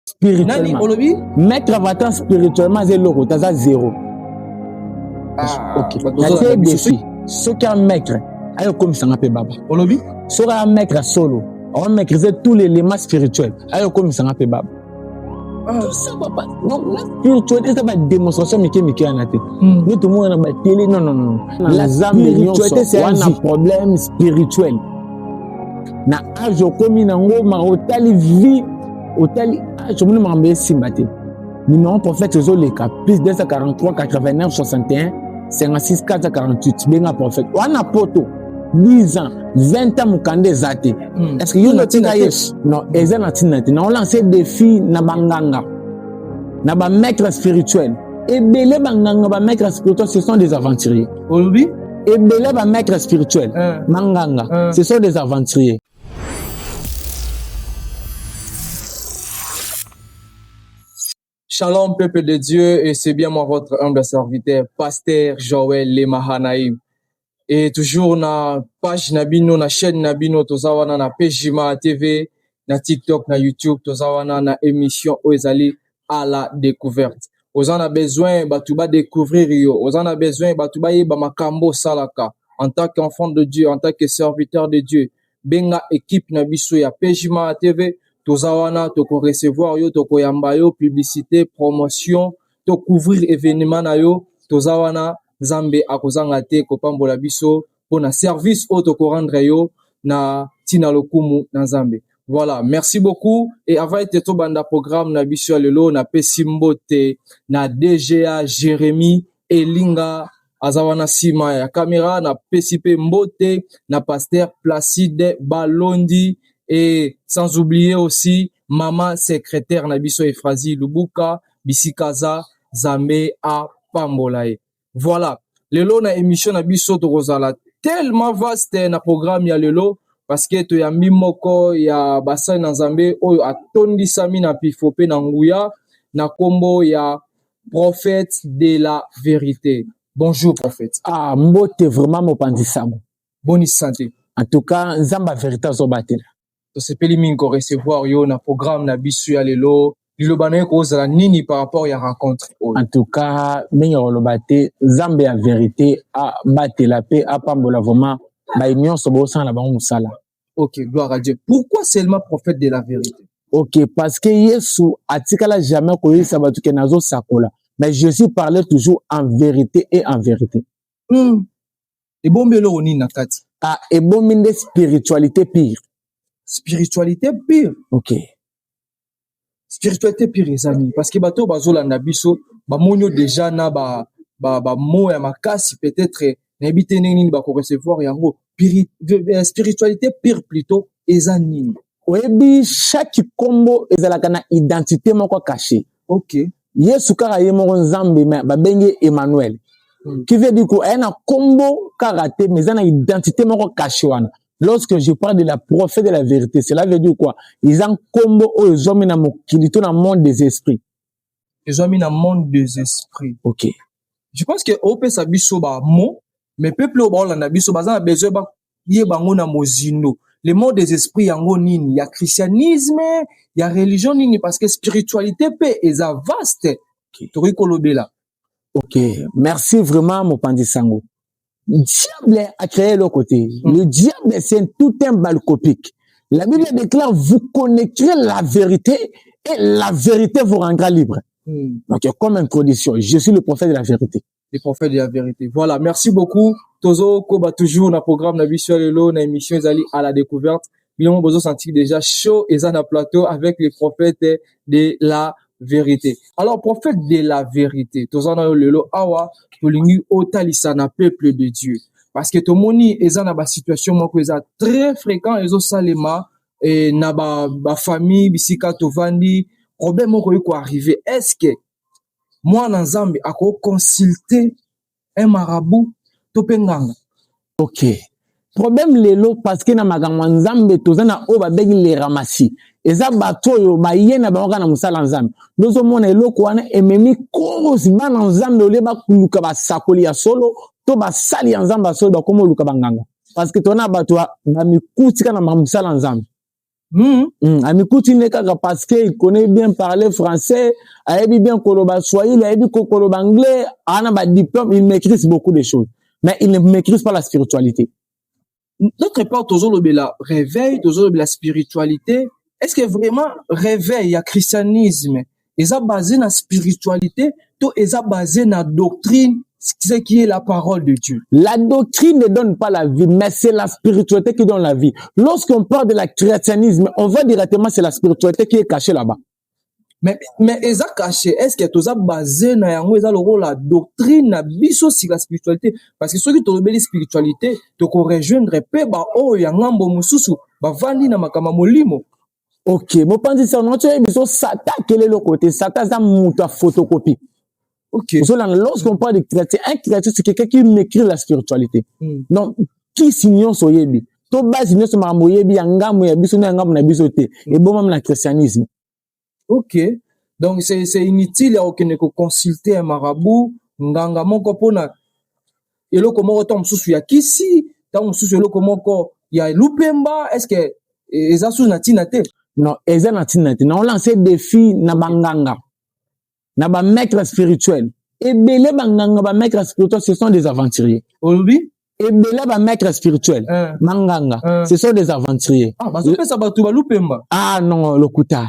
spirituellement olobi maître avatant spirituellement aza eloko te aza zero ah, okay. natie defi soki un maître ayo komisanga mpe baba olobi soki un maître solo on maîtrise tout l'élément spirituel ayo komisanga mpe baba ah. spirituel eza badémonstration mike mike wana te hmm. nde tomona na batele non non non la spiritualité c'est un problème spirituel na age okomi nango ma otali vie otali age omoni makambo esimba te numéro prophète ozoleka plus 243 89 61 56 448 benga prophète wana poto 10 ans 20 ans mokanda eza te hmm. est ce que yo natika ye non eza na ntina te na olanse défi na banganga na bamaître spirituel ebele banganga bamaître spirituel ce sont des aventuriers olobi ebele bamaître spirituel manganga hmm. hmm. ce sont des aventuriers Shalom, peuple de Dieu, et c'est bien moi, votre humble serviteur, pasteur Joël Lemahanaïm. Et toujours na page Nabino, na chaîne Nabino, Tozawana, na Pejima TV, na TikTok, na YouTube, Tozawana, na émission Oezali, à la découverte oza na besoin bato ba découvrir yo oza na besoin bato bayeba makambo osalaka en tant qu'enfant de dieu en tant que serviteur de dieu benga équipe na biso ya pejima tv toza wana tokorecevoir yo tokoyamba yo publicité promotion tocouvrir événement na yo toza wana nzambe akozanga te kopambola biso mpo na service oyo tokorendre yo na ntina lokumu na Nzambe. Voilà, merci beaucoup. Et avant ete tobanda programme na biso ya lelo, napesi mbote na DGA Jérémy Elinga aza wana nsima ya kamera. Napesi mpe mbote na pasteur Placide Balondi et sans oublier aussi mama secrétaire na biso Efrazi Lubuka bisika aza Zambe apambola ye. Voilà, lelo na emission na biso tokozala tellement vaste na programme ya lelo parce que toyambi moko ya basali na Nzambe oyo atondisami na pifo pe na nguya na kombo ya prophète de la vérité. Bonjour prophète. Ah, mbote vraiment mopanzi sango. Boni santé. En tout cas, Nzamba vérité azobatela. tosepeli mingi ko recevoir yo na programme na biso ya lelo liloba na yo ekozala nini par rapport ya rencontre oyo en tout cas mingi ya koloba te nzambe ya verité abatela mpe apambola vraiment baye nyonso bosala na bango mosala ok gloire à dieu pourquoi seulement prophète de la vérité ok parce que yesu atikala jamais koyebisa bato ke nazosakola mais jésus parlait toujours en vérité et en vérité mm. ebombi eloko nini na kati ah, ebombi nde spiritualité pire spiritualité pire ok spiritualité pire eza nini parce que bato oyo bazolanda biso bamoni yo déjà na ba ba ba mots ya makasi peut-être nayebi te ndenge nini bako recevoir yango euh, spiritualité pire plutôt eza nini oyebi chaque kombo ezalaka na identité moko caché ok yesu kaka ye moko nzambe me babengi ye emmanuel hmm. qui veut dire ko aya na nkombo kaka te mais eza na identité moko kashe wana lorsque je parle de la prophète de la vérité cela veut dire quoi eza nkombo oyo ezwami na mokili to na monde des esprits ezwami na monde des esprits ok je pense que opesa biso bamo mais peuple oyo baolanda biso baza na besoin yeba yango na mozindo le mot des esprits yango nini ya christianisme ya religion nini parce que spiritualité pe eza vaste tokoki kolobela ok merci vraiment mopanzi sango diable a créé le côté hmm. le diable c'est tout un balcopique la bible déclare vous connaîtrez la vérité et la vérité vous rendra libre hmm. donc comme introduction je suis le prophète de la vérité le prophète de la vérité voilà merci beaucoup tozo koba toujours na programme na biso lelo na émission ezali à la découverte bino bozo sentir déjà chaud eza na plateau avec le prophète de la vérité alors prophète de la vérité toza na yo lelo awa tolingi otalisa na peuple de dieu parce que tomoni eza na basituation moko eza très fréquent ezosalema eh, na bafamille ba bisika tovandi problème moko ekoki koarrive est ce que muana nzambe ako consulte un marabout to pe nganga? Ok problème lelo parce que na makambo ya nzambe toza na oyo babengi le ramasi eza bato oyo baye na bango kaka na mosala ya nzambe nde ozomona eloko wana ememi kosi bana nzambe olie bakoluka basakoli ya solo to basali ya nzambe ya solo bakoma oluka banganga parce que tona bato bamikutika na mosala ya nzambe Hmm. Hmm. amikuti nde kaka parce que il connaît bien parler français ayebi bien koloba swahili ayebi kokoloba anglais ana badiplôme il maîtrise beaucoup de choses mais il ne maîtrise pas la spiritualité notre époque tozolobela réveil tozolobela spiritualité est ce que vraiment réveil ya christianisme eza base na spiritualité to eza base na doctrine ce qui est la parole de Dieu. La doctrine ne donne pas la vie, mais c'est la spiritualité qui donne la vie. Lorsqu'on parle de la christianisme, on voit directement c'est la spiritualité qui est cachée là-bas. Mais, mais eza caché, est-ce que toza basé na yango eza la doctrine na biso si la spiritualité parce que ceux qui ont la spiritualité, tu ko rejoindre pe ba oyo ya ngambo mususu, ba vandi na makama molimo. ok mopanzi sango nati oyebi biso sata akele eloko te sata aza moto ya photocopie okay. ozolanda lorsqu'on parle de créature un créature c'est quelqu'un qui maîtrise la spiritualité mm. donc kisi nyonso oyebi to base nyonso makambo oyebi ya ngambo ya biso na ya ngambo na biso te mm. ebomami na christianisme ok donc c'est inutile ya kokende koconsulte un marabout nganga moko mpona eloko moko ntango mosusu ya kisi ntango mosusu eloko moko ya lupemba estce eza susu na ntina te non eza na ntina te naolanse defi na banganga na bamaître spirituel ebele banganga bamaître spirituel ce sont des aventuriers olobi ebele bamaître spirituel eh. banganga eh. ce sont des aventuriers ah, bazopesa bato balupemba ah non lokuta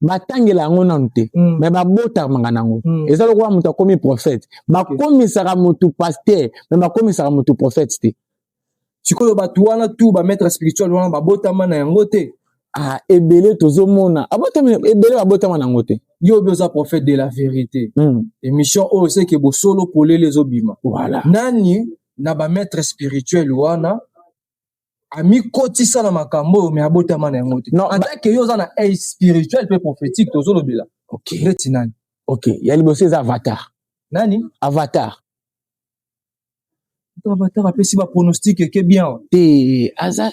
batangela yango nanu te mm. me babotamaka nango mm. eza lokola moto akomi prophète bakomisaka motu paster me bakomisaka motu prophète te sikoyo bato wana tu bamaître spirituel wana babotama na yango te ah, ebele tozomona ebele babotama na yango te yo obi oza prophète de la vérité mm. émission oyo seke bosolo polele ezobima voilà. nani na bamaître spirituel wana amikotisa na makambo oyo me abotama na yango te non, atake yo oza na age spirituel mpe prophétique tozolobela okay. ndeti nani ok ya liboso eza avatar nani avatar avatar apesi bapronostic eke bien te aza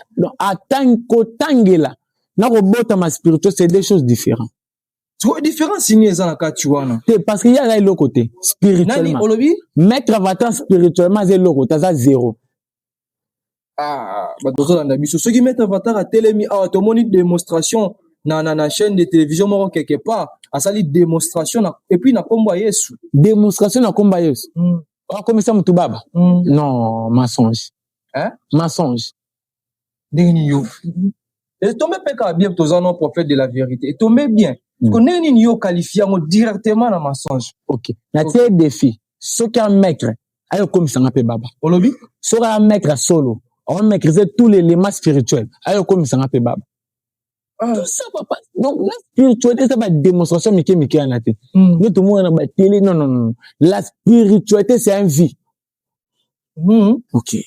kotangela na kobotama spirituel c'est deux choses différentes sikoyo différence nini eza na kati wana te parce que ye aza eloko te spirituellement olobi maître avatar spirituellement aza eloko te aza zero Ah, bato bazolanda biso soki maître avatar atelemi awa tomoni démonstration na, na, na chaîne de télévision moko quelque part asali démonstration na, epuis na nkombo ya yesu démonstration na nkombo ya yesu mm. akomisa motu baba mm. non mensonge hein? mensonge ndenge nini yo etombe mpe kaka bien toza no prophète de la vérité etombe bien mm. ko ndenge nini yo okalifie yango directement na mensonge ok na tie défi soki un maître ayo komisanga mpe baba olobi soki un maître solo on maîtrise tous les éléments spirituels ayo komisanga mpe baba ah. tout ça papa donc la spiritualité eza badémonstration mike mike wana te nde tomona na batele non non non la spiritualité c'est un vie Hmm. Ok.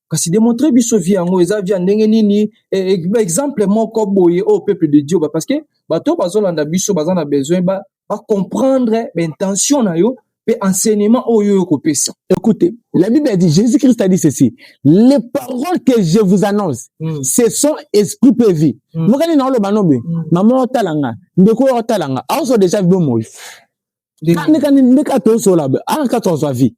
Kasi démontrer biso vie yango eza vie ndenge nini e, e, ba exemple moko boye au peuple de Dieu ba parce que bato bazolanda biso baza na besoin ba ba comprendre ba intention na yo pe enseignement oyo yo kopesa. Écoutez, la Bible a dit Jésus Christ a dit ceci, les paroles que je vous annonce, mm. ce sont esprit pe vie. Hmm. Mokani na oloba nobe, hmm. maman otalanga, ndeko otalanga, aoso déjà bomoyi. ndeka tozola aka tozwa vie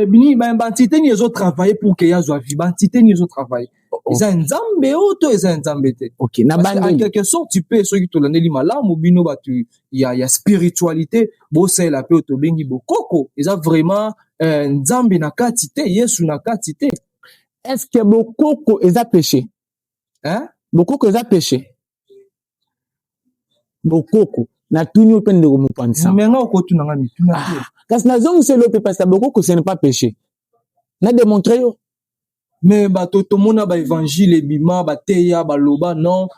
bini baentité nini ezo travaille pour ke yazwa vie baentité nini ezo travaille oh, oh. eza nzambe oyo to eza nzambe te en quelque sorte tu peux soki tolandeli malamu bino bato ya, ya spiritualité bosalela mpe oyo tobengi bokoko eza vraiment eh, nzambe na kati te yesu na kati te est ce que bokoko eza péché hein? bokoko eza péché bokoko natuni yo mpe ndeko mopanzi sango menga okotuna nga mituna te ah, kasi nazongiseli yo mpe pasta bokoko ce n'est pas péché na démontre yo me bato tomona baevangile ebima bateya baloba non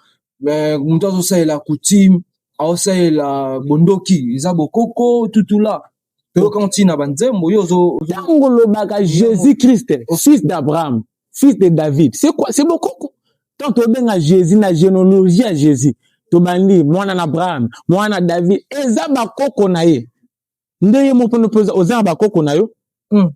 eh, moto azosalela coutume aosalela bondoki eza bokoko tutula toyoka ntina banzembo yo ozo ntango olobaka jésus christ fils d'abraham fils de david c'est quoi c'est bokoko tant tobenga jésus na généalogie ya jésus tobandi mwana na abraham mwana na david eza bakoko na ye nde ye moko mpe oza na bakoko na yo hmm.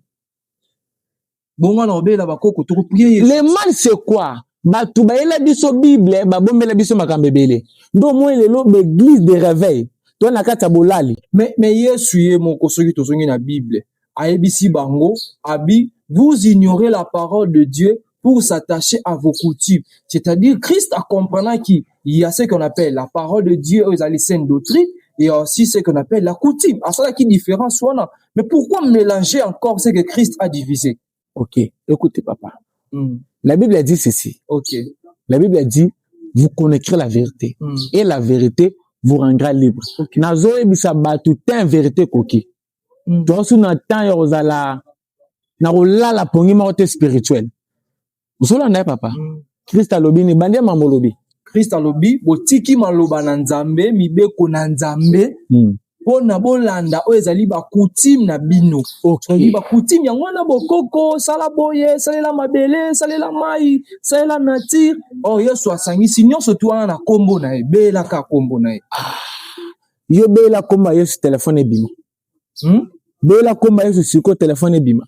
bongo na obela bakoko tokoprie yesu le mal c'est quoi bato bayela biso bible babombela biso makambo ebele ndo moi lelo baeglise de réveil to na kati ya bolali mais, mais yesu ye moko soki tozongi na bible ayebisi bango abi vous ignorez la parole de dieu pour s'attacher à vos coutumes c'est-à-dire christ akomprenaki il y a ce qu'on appelle la parole de Dieu oyo ezali sainte doctrine et aussi ce qu'on appelle la coutume asalaki différence wana mais pourquoi mélanger encore ce que Christ a divisé ok écoute papa mm. la Bible a dit ceci ok la Bible a dit vous connaîtrez la vérité mm. et la vérité vous rendra libre okay. nazoyebisa bato te vérité ekoki mm. toasu na temps ya kozala na kolala pongi moko te spirituel ozolanda ye papa mm. krist alobi ni bandi ya mambo olobi krist alobi botiki maloba na nzambe mibeko na nzambe mm. mpo na bolanda oyo ezali bakutime na bino okay. bakutime yango wana bokoko sala boye salela mabele salela mai salela nature oyo oh, yesu asangisi nyonso tu wana na nkombo na ye belaka nkombo na ye ah. yo bela nkombo ya yesu telefone ebima hmm? bela nkombo ya yesu sikoyo telefone ebima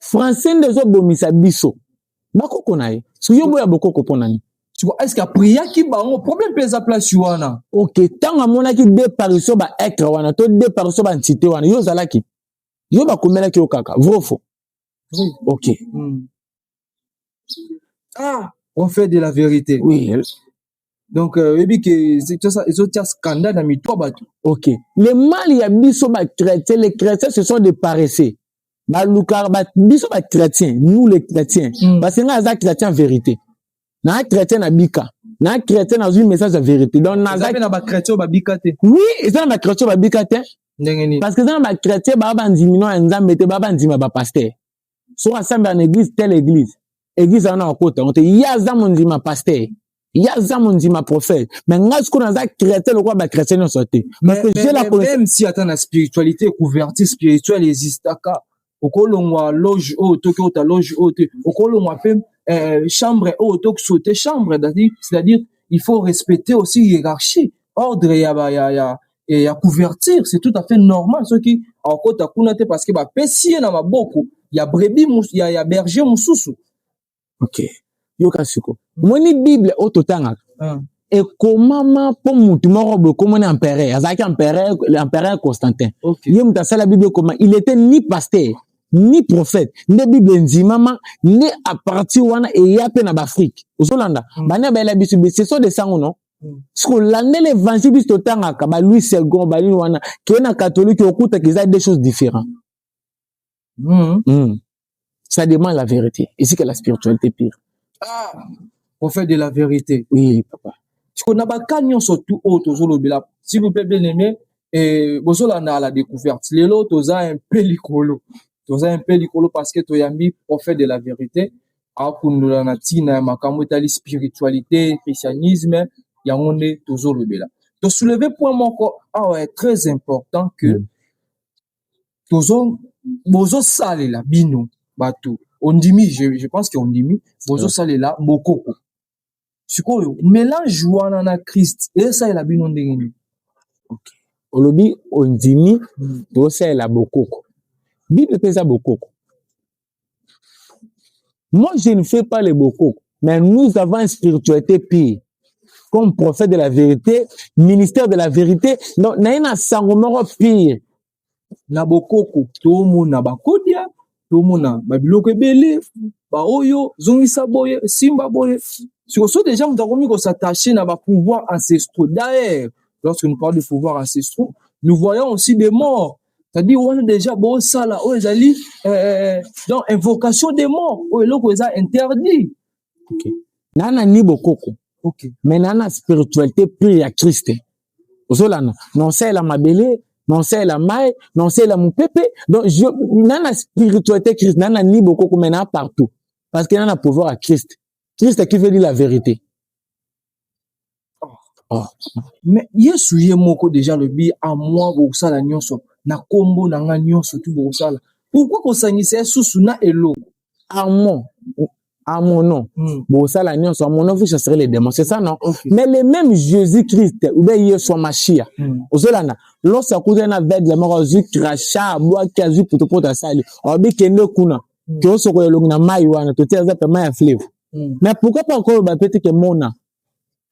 français nde ezobomisa biso bakoko na ye yo boya bokoko mpo na nini sikoyo eske apriaki bango problème mpe eza place wana ok ntango amonaki deparition ba etre wana to deparition ba ntite wana yo ozalaki yo bakomelaki yo kaka vrofo ok hmm. ah on fait de la vérité oui donc euh, oyebi ke ezotia scandale na mitu ya bato ok le mal ya biso bachrétien les chrétiens ce sont des paresseux balukaka ba, biso bachrétien nous les chrétiens mm. parce que ngai aza chrétien vérité naa chrétien na bika naa chrétien nazwi message ya vérité donc nazape na bachrétien oyo babika te oui eza na bachrétien oyo babika te ndenge nini parce que eza na bachrétien baa bandimi no ya nzambe te baa bandima bapaster soki asambela na eglise telle eglise eglise wana akota yango te ye aza mondima paster ye aza mondima prophète me ngai sikoyo naza chrétien lokola bachrétien nyonso te parce que je la connais même si ata na spiritualité couverture spirituelle existaka okolongwa loge oyo to okota loge oyo te okolongwa mpe euh, chambre oyo to saute chambre c'est-à-dire il faut respecter aussi hiérarchie ordre ya ba ya ya et ya couverture c'est tout à fait normal soki akota kuna te parce que ba pesi na maboko ya brebis ya, ya berger mususu ok yoka siko moni bible oyo totangaka ah. ekomama mpo motu moko boye ekomoni empereur azalaki empereur empereur constantin okay. ye moto asala bible ekoma il était ni pasteur ni prophète nde bible endimama nde apartir wana eya mpe na baafrike ozolanda mm. bana bayela biso ce sont des sango non siko landela évangile biso totangaka ba louis second banini wana keye na katholike okutaka eza deux choses différent mm. mm. ça demande la vérité esika la spiritualité pire ah, prophète de la vérité oui papa siko na baka nyonso tu oyo oh, tozolobela s'il vous plaît bien aimé eh, bozolanda la découverte lelo toza un peu likolo toza un peu likolo parce que toyambi prophète de la vérité akundola na ntina ya makambo etali spiritualité christianisme yango nde tozolobela tosouleve point moko awa ya très important que mm. tozo bozosalela bino bato ondimi je, je pense que ondimi bozosalela bokoko sikoyo melange wana na christ esalela bino ndenge nini okay. olobi ondimi hmm. tosalela bokoko bible mpe eza bokoko moi je ne fais pas le bokoko mais nous avons une spiritualité pire comme prophète de la vérité ministère de la vérité donc naye na sango moko pire na bokoko tomona bakodia tomona babiloko ebele baoyo zongisa boye simba boye sikoso deja moto akomi kosatache na bapouvoir ancestraux daer lorsque nous parle de pouvoir ancestraux nous voyons aussi des morts c'est-à-dire wana deja bosala oyo ezali euh, euh, euh, donc invocation des morts oyo eloko eza interdit okay. na na ni bokoko okay. me na na spiritualité pure ya kriste ozolanda na osalela mabele na osalela mai na osalela mopepe donc na na spiritualité kriste na na ni bokoko me na partout parce que na na pouvoir ya kriste kriste qui veut dire la vérité Oh. Mais Yesu ye moko deja lobi a moi bokosala nyonso na kombo na nga nyonso tu bokosala. Pourquoi kosangisa ye susu na eloko? A moi à mon nom. Hmm. Bon, ça la nuance, à mon nom, vous chasserez les démons. C'est ça, non? Okay. Mais le même Jésus-Christ, ou bien Yeshua Mashiach, hmm. ozolana, lorsque akuta na vede la mort, azu kracha, boa ki azu puto puto asali, obi kende kuna, hmm. kiosoko ya longi na mai wana, totia aza pe mai ya fleuve. Mm. Mais pourquoi pas encore ba peut-être que mona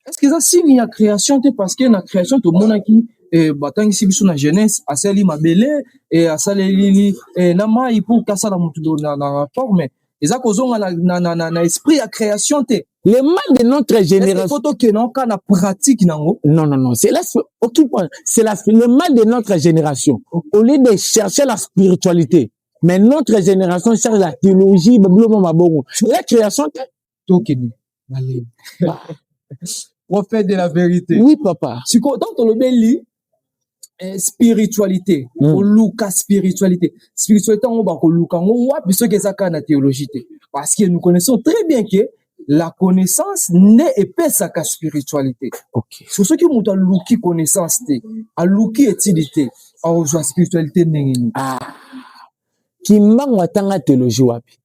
Est-ce que ça signe ya création te parce que na création to mona ki eh, batangisi biso na jeunesse asali mabele eh, asaleli eh, na mai pour kasala mutu do- na, na forme eza kozonga na, na, na, na, na esprit ya création te Le mal de notre Est-ce que génération. faut tokende oka na pratique nango Non, non, non. C'est la, occupe- c'est la, le mal de notre génération. Au lieu de chercher la spiritualité, mais notre génération charge la trilogie biloma mabongo la création te tokende malemi prophète de la vérité oui papa sikoyo ntango tolobeli eh, spiritualité mm. koluka spiritualité spiritualité yango bakoluka yango wapi soki eza kaka na théologie te parce que nous connaissons très bien que la connaissance nde epesaka spiritualité okay. so soki moto aluki connaissance te aluki etidi te akozwa spiritualité ndenge nini ah. kimbangu atanga teologie wapi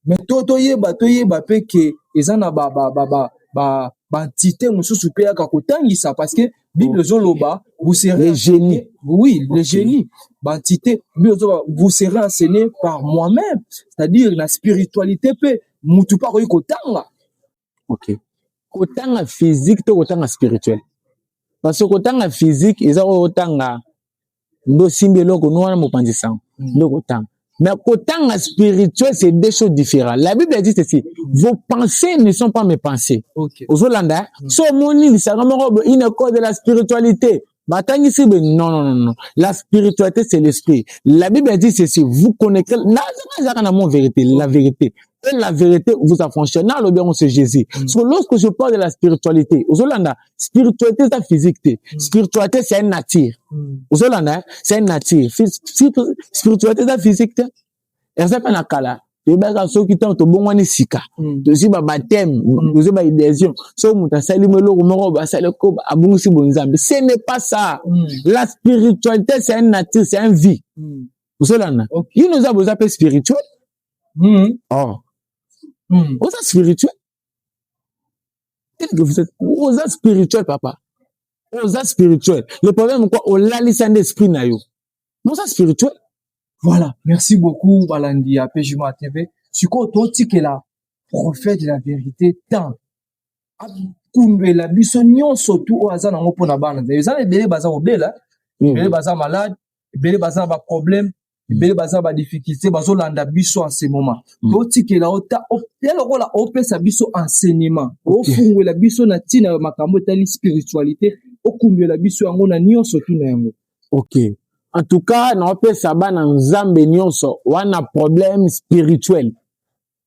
me to toyeba toyeba mpe ke eza na baentité ba, ba, ba, ba mosusu mpe yaka kotangisa parce que Bible ezoloba vous serez les génies. Oui, okay. les génies. Bantité, Bible ezoloba vous serez enseigné par moi-même, c'est-à-dire la spiritualité pe mutu pa koyi kotanga. OK. Kotanga physique to kotanga spirituel. Parce que kotanga physique eza oyo otanga ndo simbi eloko no wana mopanzi sango mm. ndo kotanga mais kotanga spirituel c'est deux choses différentes la bible dit ceci mm. vos pensées ne sont pas mes pensées okay. ozolanda hein? mm. so omoni lisanga moko une cause de la spiritualité batangisi be non non non non la spiritualité c'est l'esprit la bible dit ceci vous connaissez nazaka ezaka na mon vérité la vérité et la vérité vous affranchit na alobi yango c'est jésus mm. so lorsque je parle de la spiritualité ozolanda spiritualité eza physique te mm. spiritualité c'est une nature mm. ozolanda c'est une nature spiritualité eza physique te eza mpe na kala toyebaka soki ntango tobongwani sika mm. tozwi babateme mm. tozwi baidesio soki moto asali mo eloko moko basali ko abongisi bonzambe ce n'est pas ça mm. la spiritualité c'est un nature c'est un vie osolanda okay. yino oza boza mpe spirituel mm. oh. mm. oza spirituel oza spirituel papa oza spirituel le problème quoi olalisa nde esprit na yo oza spirituel voilà merci beaucoup balandi ya pejima tv sikoyo totikela prophète de la vérité temps akundwela biso nyonso tu oyo aza nango mpo na bana eza na ebele baza kobela ebele baza malade ebele baza na baproblème ebele baza ba difficulté bazolanda biso en ce moment mm. totikela ota ya lokola opesa biso enseignement ofungwela biso na ntina ya makambo etali spiritualité okundwela biso yango na nyonso tu na yango ok en tout cas naopesa bana nzambe nyonso wana problème spirituel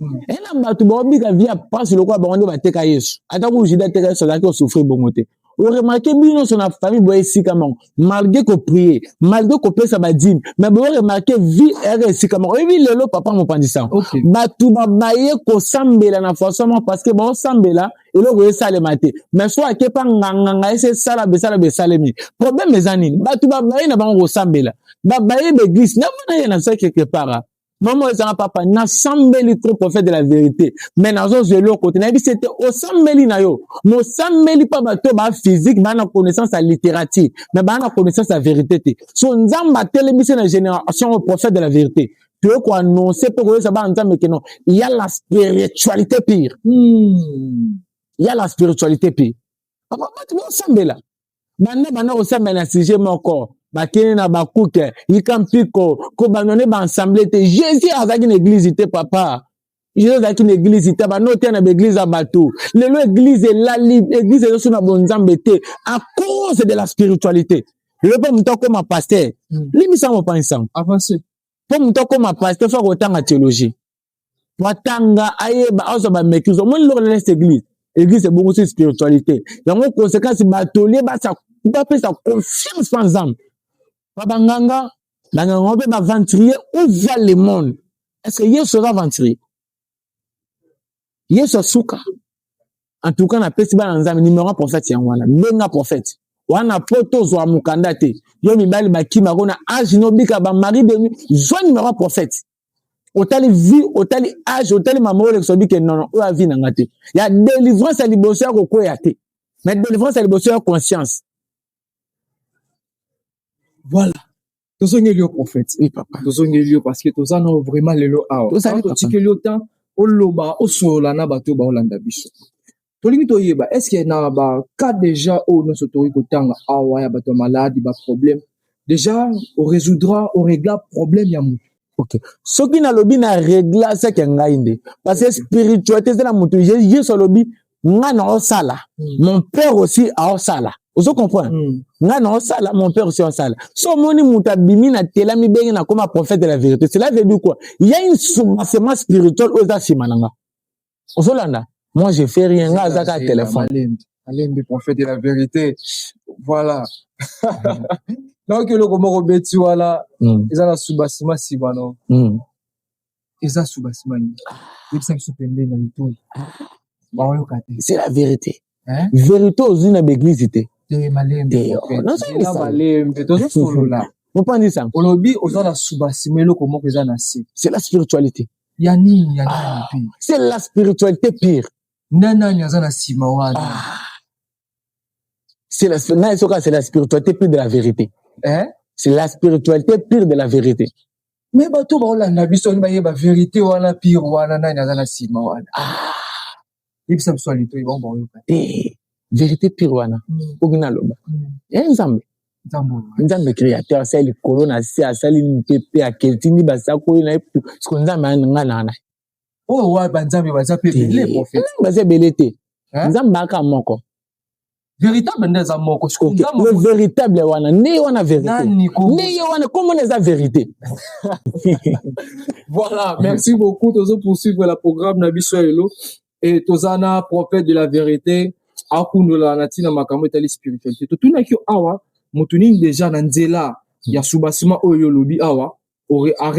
hmm. e na bato baobika vi ya mpasi lokola bango nde bateka yesu ata kutu juda ateka yesu azalaki kosufri bongo te oremake bino nyonso na famille boye esika moko malgre koprie malgre kopesa badime mai booremake vie ere esika moko oyebi lelo papa mopanzi sango okay. bato babaye kosambela na façon moko parce que baosambela eloko esalema te mai so ake mpa nganganga esi esala besala besalemi problème eza nini bato babaye na bango kosambela babaye baeglise na mwana ye na se quelque part mama ezanga papa nasambeli trop prophète de la vérité mais nazozwa eloko te nayebi se te osambeli na yo mosambeli mpa bato oyo baa physique baa na connaissance ya littérature mais baa na connaissance ya vérité te so nzambe atelemi se na génération oyo prophète de la vérité toye koannonce mpe koyesa bana nzambe keno ya la spiritualité pire hmm. ya la spiritualité pire bato bosambela banda banda kosambela na sujet moko bakende na bakuke yika mpiko kobanda nde baensemble te jésus azalaki na eglize te papa jesus azalaki na eglize te banda oteya na baeglize ya bato lelo eglize elali eglize ezoso na bonzambe te à cause de la spiritualité lelo mpe moto akoma paster hmm. limbisa mopangisango mpo moto akoma paster fo akotanga théologie watanga ayeba azwa bamekise omoni loko na leste église église ebongisi spiritualité yango conséquence batolie bapesa confiance na nzambe pa banganga banganga mpe baventurier où va le monde est ce que yesu aza aventurier yesu asuka en tout cas napesi bana nzambe numero ya prophète yango wana benga prophète wana po tozwa mokanda te yo mibali bakimako na age nobika bamari de zwa numero ya prophète otali vie otali age otali mama olekisa obi ke nono oyo avi na nga te ya délivrance ya liboso ya kokweya te mais délivrance ya liboso ya conscience voilà tozongeli yo prophète oui, papa tozongeli yo parce que toza nao vraiment lelo awa totikeli yo temps oloba osolola na bato baolanda biso tolingi toyeba est ce que na ba cas déjà oyo nyonso tokoki kotanga awa ya bato ya maladi ba problème déjà oresoudra oregla problème ya motu ok soki nalobi na regla seke ya ngai nde parce que spiritualité eza na motu yesu alobi ngai naosala hmm. mon père aussi aosala ozo comprendre mm. nga na osala mon père aussi osala so omoni moto abimi na tela mibenge nakoma prophète de la vérité cela veut dire quoi il y a une soubassement spirituel oyo eza nsima na nga ozolanda moi je fais rien nga aza kaka telefone alembi prophète de la vérité voilà nayoki eloko moko beti wana hmm. eza na subasima nsima no hmm. eza subasima nini yebisa biso pembeni na litoi baoyoka te c'est la vérité Hein? verité ozwi na baeglise te Te malembe. Te, oh, prophète. nazo Zela yebisa. malembe tozosolola mopanzi sango olobi oza na suba nsima eloko moko eza na se c'est la spiritualité ya nini ya nani Ah. mpe c'est la spiritualité pire nde nani aza na nsima wana ah. c'est la na soka c'est la spiritualité pire de la vérité Eh? c'est la spiritualité pire de la vérité me bato baolanda biso ani bayeba verite wana pire wana nani aza na nsima wana ah! yebisa biso alito ye bango baoyoka te eh, verite pire wana mm. oki naloba mm. e eh, nzambe nzambe créateur asali likolo na se asali mpepe akeltindi basakoli na ye siko nzambe ngai na ngai oyo oh, wa banzambe baza mpe ebele profete hmm, baza ebele te nzambe aka moko véritable nde eza moko le véritable wana nde wana vérité nde ye wana komona eza vérité voilà merci beaucoup tozo poursuivre la programme na biso ya lelo e toza na prophète de la vérité akundola na ntina makambo etali spiritualité totunaki yo awa moto nini deja na nzela ya subasima oyo olobi awa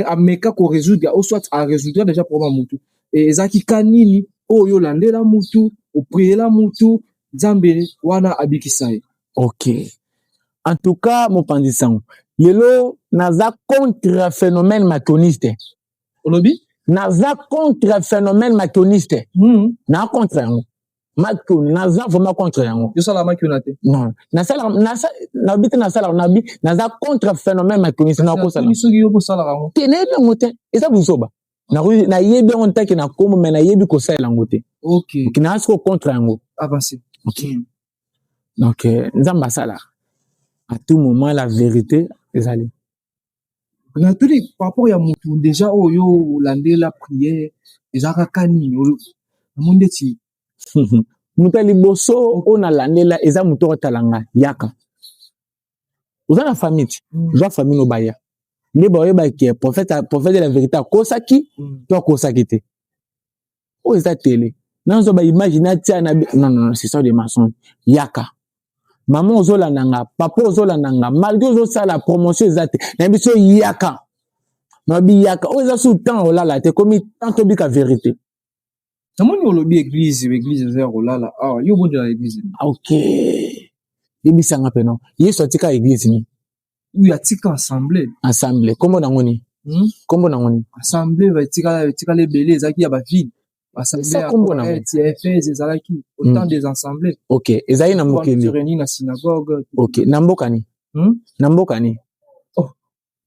ameka ko résoudre au soit a résoudre déjà problème mutu et ezaki ka nini oyo olandela mutu opriela mutu nzambe wana abikisa ye ok en tout cas mopanzi sango lelo naza contre phénomène matoniste olobi naza contre phénomène matoniste mm. na contre yango makuna naza vraiment contre yango yosalaka makuna te non nasala nabi te nasalaka nabi naza contre phénomène makunisi nakosala soki yo kosalaka yango te nayebi yango te eza buzoba nayebi yango ntaki na kombo mai nayebi kosalela yango te naa soko contre yango ah, hmm. donc euh, nzambe asala à tout moment la vérité ezali natuni par rapport ya mutu deja oyo olandela prière eza kaka nini namoni ndeti moto ya liboso oyo nalandela eza moto oyo atala ngai yaka oza na famille ti mm. zwa famille nobaya nde baoyebaki prophète prophète de la vérité akosaki mm. to akosaki te oyo eza tele nazwa ba image natia na non non c'est ça des mensonges yaka mama ozolanda nga papa ozolanda nga malgre ozosala promotion eza te na biso yaka nabi yaka oyo eza su temps olala te komi temps tobika verité namoni olobi eglize eglize eza ya kolala awa ah, yo obondela eglize ok yebisanga mpe no yesu atika eglize nini uyo atika ensemble ensemble kombo nango nini hmm? kombo nango nini ensemble batikala etikala ebele ezalaki ya bavile basaleliaefese ezalaki autant hmm. des ensembles ok ezalaki na mokili réuni na synagogue ok na mboka ni hmm? na mboka ni oh.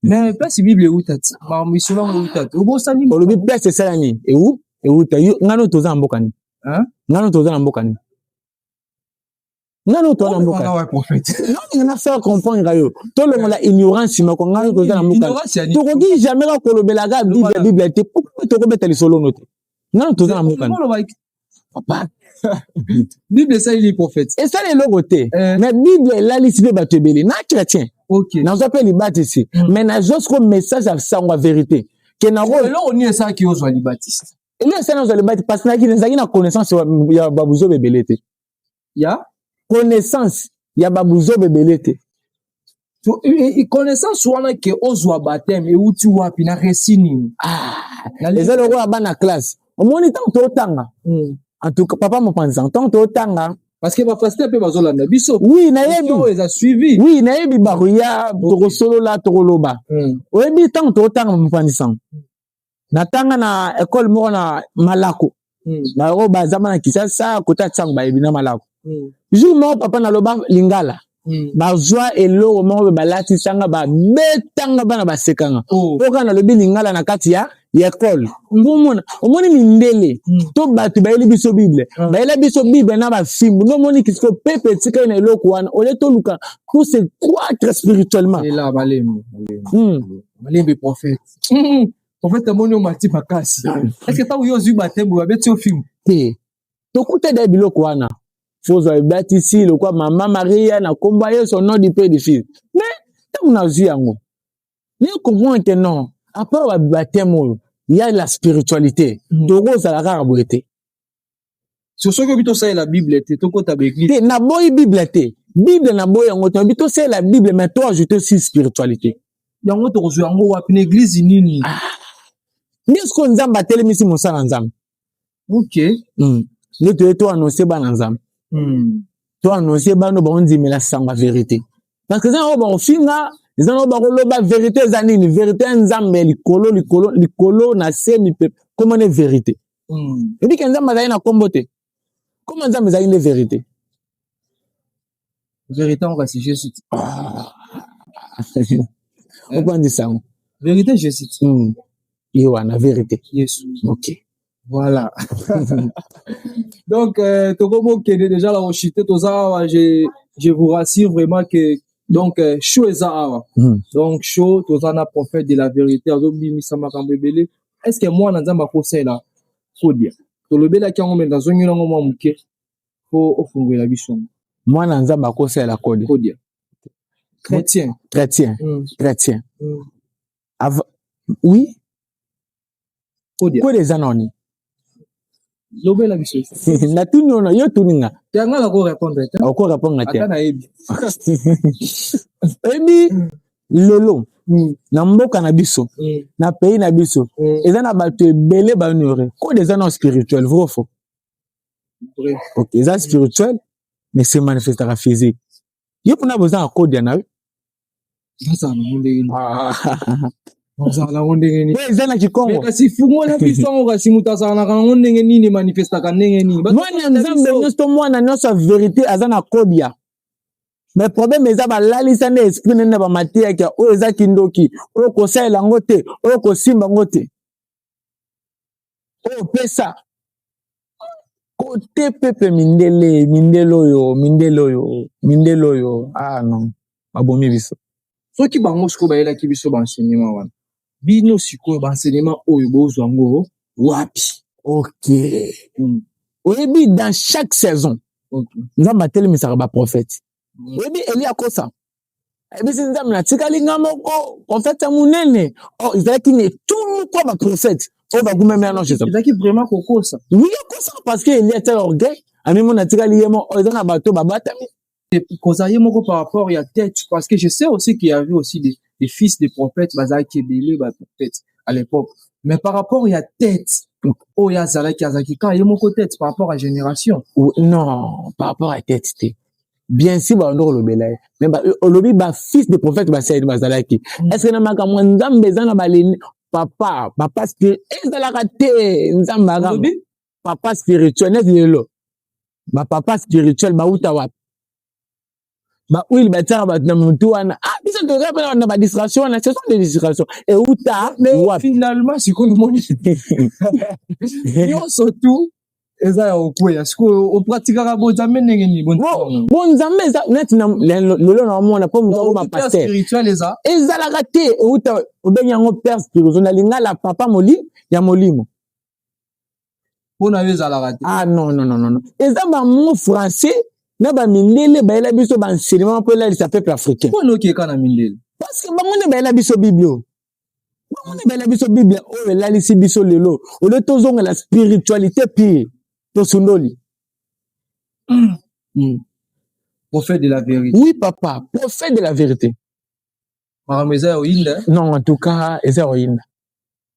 mais place bible euta ti makambo isolo yango euta ti obosani olobi place esalami eu euta yo ngano toza na mboka ni ngano toza na mboka ni nani oto na mboka nani na faire comprendre yo tolongola ignorance moko ngai toza na mboka tokoki jamais ka kolobela ka bible bible te pourquoi tokobeta lisolo no te nani toza na mboka papa bible esaleli prophète esali eloko te eh. mais bible elalisi mpe bato ebele na chrétien nazwa mpe libatisi hmm. mais nazwa siko message ya sango ya verité ke nango eloko nini esalaki ozwa libatisi eloko esali nazwa libatisi parce nazalaki na connaissance ya babuzoba ebele te ya connaissance ya babuzoba ebele te connaissance wana ke ozwa bateme euti wapi na resi nini ah, eza lokola bana classe omoni ntango totanga hmm. en tout cas papa mopanzi ntango totanga parce que bapasteur mpe bazolanda biso oui nayebi eza suivi oui nayebi bakoya tokosolola tokoloba hmm. oyebi ntango totanga mopanzi sango natanga na ekole moko na malako hmm. na yango bazama na kisasa kota ntango bayebi na malako hmm. jour moko papa naloba lingala hmm. bazwa eloko moko mpe balatisanga babetanga bana basekanga mpo oh. kaka nalobi lingala na kati ya ya ekole ngomona omoni mindele hmm. to bato bayeli biso bible hmm. bayela biso bible na bafimbu nde omoni kisiko pepe etikali na eloko wana olie toluka pour se croître spirituellement hmm. malembe prophète Hmm, prophète amoni omati makasi eske ntango yo ozwi batembo babeti yo fimbo te tokuta da biloko wana fozwa ebatisi lokwa mama maria na nkomba yesu nom du père du fils mais ntango nazwi yango ne comprendre que non apart bateme oyo ya la spiritualité hmm. tokozala kaka boye te so soki obi tosalela bible te tokota baeglise te naboyi bible te bible naboyi yango te obi tosalela bible mais to ajoute aussi spiritualité yango tokozwa yango wapi na eglise nini ah. nde sikoyo nzambe atelemisi mosala nzambe ok hmm. nde toye to annonce bana nzambe hmm. to annonce bano baondimela sango ya verité parce que eza yango bakofinga eza nango bakoloba verité eza nini verité ya nzambe likolo likolo likolo na se mipepe komane verité Hmm. Ebi ke Nzambe azali na nkombo te. Nkombo ya Nzambe ezali nde verite. Verite yango kasi je cite. Ah. Obandisa yango. Verite je cite. Hmm. Ye wana verite. Yesu. Ok. Voilà. Donc, euh, Tokomo qui est déjà là au chité, Tozawa, je, je vous rassure vraiment que donc euh, show eza awa. Hmm. Donc show Tozana prophète de la vérité, azobimisa makambo ebele. est ce que mwana nzambe akosalela kodia tolobelaki yango me nazongeli yango mwa moke mpo ofungwela biso mwana nzambe akosalela kodia kodia chrétien chrétien mm. chrétien mm. Av oui kodia kodia eza nani lobela biso natuni ona yo tuni nga yanga nako répondre te oko répondre te ata nayebi ebi lelo hmm. na mboka na biso hmm. na pays na biso hmm. eza na bato ebele baonore kode eza na spirituel vrai faux ok eza spirituel mais se manifestaka physique yo mpona boza akodia na yo ozala nango ndenge nini ah. ozala nango ndenge nini eza na kikongo kasi fungola biso yango kasi moto azalaka nango ndenge nini emanifestaka ndenge nini mwana ya nzambe nyonso to mwana nyonso ya verite aza na kodia me probleme eza balalisa nde esprit nene na bamateyaki oyo eza kindoki oyo kosalela yango te oyo kosimba yango te oyo pesa kote pepe mindele mindele oyo mindele oyo mindele oyo ah non babomi biso soki bango sikoyo bayelaki biso baenseignement wana bino sikoyo baenseignement oyo bozwa yango wapi ok mm. oyebi dans chaque saison okay. nzambe atelemisaka baprofete mm. oyebi elia kosa ayebisi nzambe natikali nga moko profete ya monene o oh, ezalaki na etuluku ya baprofete oyo bagumami anonce ezalaki vraiment kokosa wi akosa parce que elia tel orgueil amimona atikali ye moko oh, eza na bato babatami kozala ye moko par rapport ya tete parce que je sais aussi qu'il y avait aussi des, des fils des prophètes bazalaki ebele baprofete à l'époque mais par rapport ya tete oyo azalaki azalaki kaka ye moko tete par rapport ya génération non par rapport ya tete te bien sûr balanda kolobela ye me olobi bafils de prophète basaidi bazalaki mm. estce na makambo ya nzambe eza na baleni papa papa ezalaka te nzambe aka papa spirituel neti lelo bapapa spirituel bauta wapi baoil batiaka bato na motu wana ah, biso toza mpe na badistraction wana ce sont des distraction euta wapi finalement sikoyo omoni nyonso tout eza ya okweya sikoyo opratikaka bonzambe ndenge nini bonzambe eza neti lelo na omona mpo moto akoma paster ezalaka te outa obengi yango père spirituel na lingala papa moli ya molimo mpo na yo ezalaka te ah non non non non eza bamo français na bamindele bayela biso baenseignement mpo elalisa peuple africain mpo nokeka na mindele parce que bango nde bayela biso biblio bango nde bayela biso biblia oyo elalisi biso lelo olio tozongela spiritualité pire tosundoli mm. Mm. prophète de la vérité oui papa prophète de la vérité makambo eza ya oyinda non en tout cas eza ya oyinda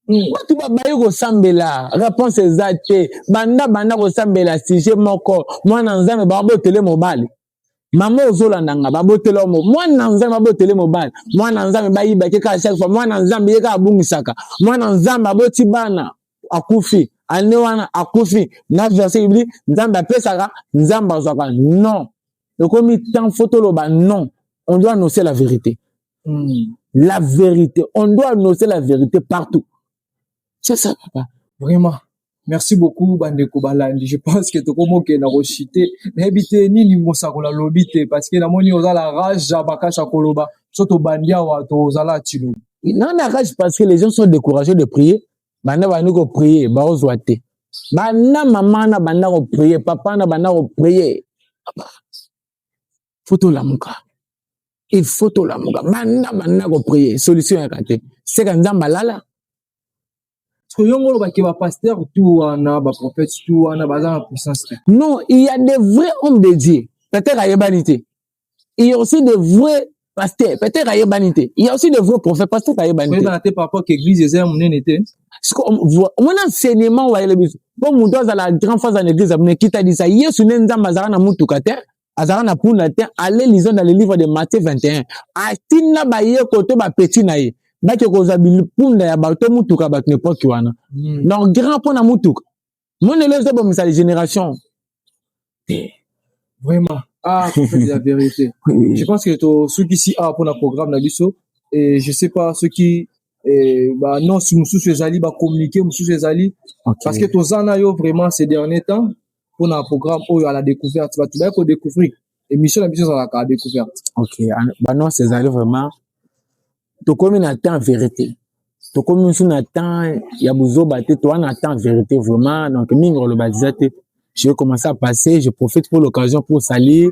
hmm. bato babaye kosambela réponse eza te banda banda kosambela sujet moko mwana nzambe bango botele mobali mama ozolanda nga babotela omo mwana nzambe babotele mobali mwana nzambe bayibaki kaka chaque fois mwana nzambe ye kaka abungisaka mwana nzambe aboti bana akufi ane wana akufi na verse bibli nzambe apesaka nzambe azwaka non ekomi temps fo toloba non on doit annoncer la vérité mm. la vérité on doit annoncer la vérité partout c'est ça papa vraiment merci beaucoup bandeko balandi je pense que tokomokenda koshite nayebi te nini mosakola lobi te parce que namoni oza la rage ya makasi ya koloba so tobandi awa tozala tilobi non na rage parce que les gens sont découragés de prier banda bandi koprier baozwa te banda mama na banda koprier papa na banda koprier faut tolamuka il faut tolamuka banda banda koprie solution yaka te seka nzambe alala soki yo molo bake bapaster tu wana baprophète tu wana baza na puissance te non il y a des vrais hommes de dieu peut-être ayebani te il y a aussi des vrais pasteur peut-être ayebani te il y a aussi des vrais prophètes pasteur ayebani te oyebana te par rapport que église eza ya monene te omoni enseignement oyo ayele biso mpo moto azala grand fois na église ya monene kitalisa yesu nde nzambe azalaka na motuka te azalaka na puna te ale lizo na le livre de matthieu 21 atinda bayeko to bapeti na ye bake kozwa bipunda ya bato to motuka bato na epoki wana mm. donc grand mpo na motuka monelo ezobomisa le génération te vraiment ah de la vérité je pense que tosukisi awa mpo na programme na biso et je sais pas soki eh, baannonce mosusu ezali bacommuniqué mosusu ezali okay. parce que toza na yo vraiment ces derniers temps mpo na programme oyo à la découverte bato baye kodécouvrir émission na biso ezalaka à découverte ok banonce ezali vraiment tokomi na temps vérité tokomi mosusu na temps ya buzoba te toa na temps vérité vraiment donc mingi koloba deja te je commence à passer je profite pour l'occasion pour saluer